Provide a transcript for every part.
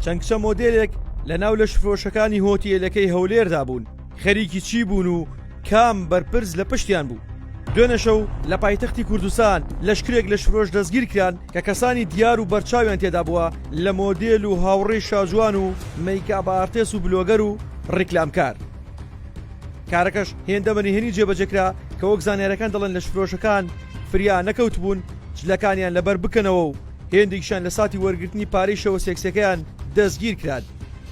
چەند کچە مۆدێلێک لە ناو لە شفرۆشەکانی هۆتیلەکەی هەولێردا بوون خەریکی چی بوون و کام بەرپرس لە پشتیان بوو دوێنەشە و لە پایتەختی کوردستان لەشکرێک لە شفرۆش دەستگیر کران کە کەسانی دیار و بەرچاویان تێدا بووە لە مۆدێل و هاوڕێی شاجوان و میکابارتێس و بلۆگەر و ڕیکلامکار کارەکەش هێندە بە نهێنی جێبەجێ کرا کە وەک زانیارییەکان دەڵێن لەشفرۆشەکان فریا نەکەوتبوون جلەکانیان لەبەر بکەنەوە و هێندێکیشیان لە ساتی وەرگرتنی پارەی شەوە سێکسیەکەیان دەستگیر کران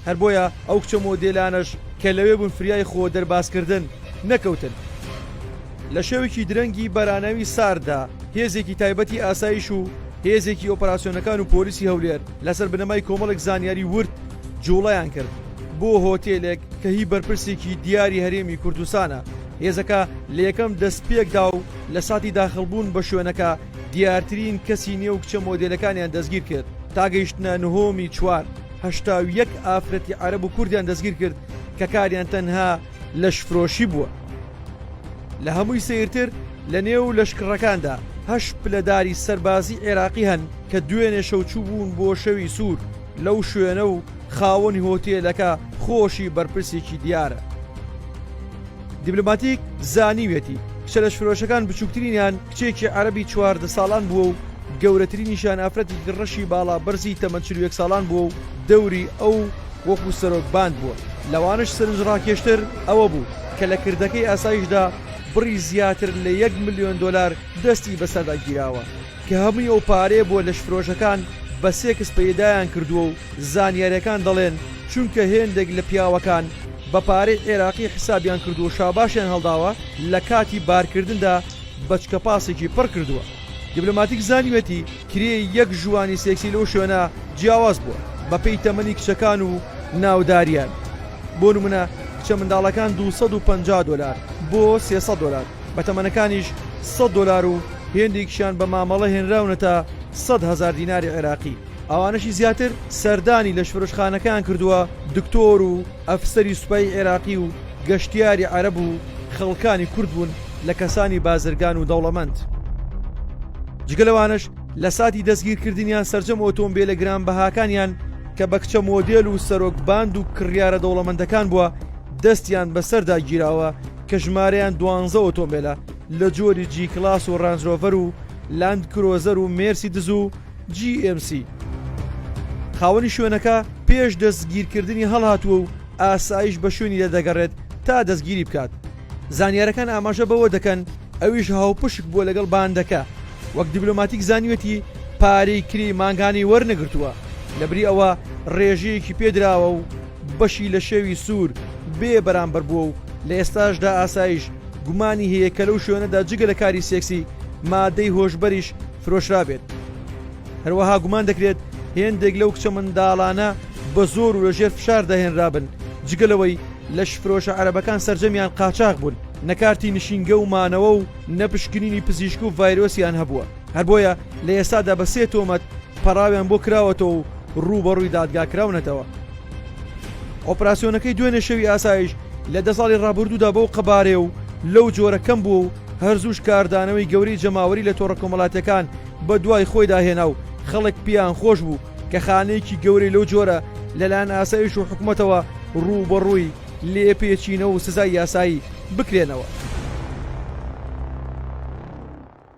هەر بۆیە ئەو کچە مۆدێلانەش کە لەوێ بوون فریای خۆ دەربازکردن نەکەوتن. لە شەوێکی درەنگی بەراناوی سارددا هێزێکی تایبەتی ئاسایش و هێزێکی ئۆپەراسیۆنەکان و پۆلیسی هەولێر لەسەر بنەمای کۆمەڵێک زانیاری ورد جووڵەیان کرد بۆ هۆتێلێک کە هی بەرپرسێکی دیاری هەرێمی کوردستانە، هێزەکە لە یەکەم دەستپێکدا و لە ساتی داخڵبوون بە شوێنەکە دیارترین کەسی نێو کچە مۆدێلەکانیان دەستگیر کرد تا گەیشتنە نهۆمی چوار، هەشتا و یەک ئافرەتی عەرەب و کوردیان دەستگیر کرد کە کاریان تەنها لەشفرۆشی بووە. لە هەمووی سەیرتر لە نێو لەشکڕەکاندا هەشت پلەداری سەربازی عێراقی هەن کە دوێنێ شەو چووبوون بۆ شەوی سوور، لەو شوێنە و خاوەنی هۆتێلەکە خۆشی بەرپرسێکی دیارە. دیبلۆماتیک زانیویەتی کچە لەشفرۆشەکان بچووکترینیان کچێکی عەرەبی چواردە ساڵان بووە و گەورەترینیشان ئافرەتێکی ڕەشی باڵا بەرزی تەمەن چل و یەک ساڵان بووە و دەوری ئەو وەکو سەرۆک باند بووە لەوانەش سەرنجڕاکێشتر ئەوە بوو کە لە کردەکەی ئاسایشدا بڕی زیاتر لە یەک ملیۆن دۆلار دەستی بەسەردا گیراوە. کە هەمووی ئەو پارەیە بۆ لەشفرۆشەکان بە سێکس پەیدایان کردووە و زانیاریەکان دەڵێن چونکە هێندێک لە پیاوەکان بە پارەی عێراقی حسابیان کردووە شاباشیان هەڵداوە لە کاتی بارکردندا بەچکە پاسێکی پڕ کردووە دیبلۆماتیک زانیویەتی کرێی یەک ژووانی سێکسی لەو شوێنە جیاواز بووە بە پێی تەمەنی کچەکان و ناوداریان بۆ نمونە کچە منداڵەکان دوو سەد و پەنجا دۆلار بۆ سێ سەد دۆلار. بە تەمەنەکانیش سەد دۆلار و هێندێکیشیان بە مامەڵە هێنراونەتە سەد هەزار دیناری عێراقی، ئەوانەشی زیاتر سەردانی لەشفرۆشخانەکەیان کردووە، دکتۆر و ئەفسەری سوپای عێراقی و گەشتیاری عەرەب و خەڵکانی کورد بوون لە کەسانی بازرگان و دەوڵەمەند. جگە لەوانەش لە ساتی دەستگیرکردنیان سەرجەم ئۆتۆمبێلە گرانبەهاکانیان کە بە کچە مۆدێل و سەرۆک باند و کڕیارە دەوڵەمەندەکان بووە دەستیان بەسەردا گیراوە، کە ژمارەیان دوانزە ئۆتۆمبێلە لە جۆری جی کڵاس و ڕەنج ڕۆڤەر و لاند کرۆزەر و مێرسیدز و جی ئێم سی. خاوەنی شوێنەکە پێش دەستگیرکردنی هەڵهاتووە و ئاسایش بە شوێنیدا دەگەڕێت تا دەستگیری بکات. زانیارەکان ئاماژە بەوە دەکەن ئەویش هاوپشک بووە لەگەڵ باندەکە، وەک دیبلۆماتیک زانیوێتی پارەی کرێی مانگانەی وەرنەگرتووە، لەبری ئەوە ڕێژەیەکی پێدراوە و، بەشی لە شێوی سوور بێ بەرامبەر بووە و لە ئێستاشدا ئاسایش گومانی هەیە کە لەو شوێنەدا جگە لە کاری سێکسی مادەی هۆشبەریش فرۆشرابێت. هەروەها گومان دەکرێت هێندێک لەو کچە منداڵانە بە زۆر و لە ژێر فشاردا هێنرابن، جگە لەوەی لەشفرۆشە عەرەبەکان سەرجەمیان قاچاغ بوون، نە کارتی نشینگە و مانەوە و نە پشکنینی پزیشک و ڤایرۆسیان هەبووە. هەر بۆیە لە ئێستادا بە سێ تۆمەت پەڕاویان بۆ کراوەتەوە و ڕووبەڕووی دادگا کراونەتەوە. ئۆپراسیۆنەکەی دوێنێ شەوی ئاسایش لە دە ساڵی ڕابردوودا بەو قەبارەیە و لەو جۆرە کەم بووە و هەرزووش کاردانەوەی گەورەی جەماوەری لە تۆڕە کۆمەڵاتیەکان بە دوای خۆیدا هێنا و خەڵک پێیان خۆش بوو کە خانەیەکی گەورەی لەو جۆرە لەلایەن ئاسایش و حکوومەتەوە ڕووبەڕووی لێپێچینەوە و سزای یاسایی بکرێنەوە.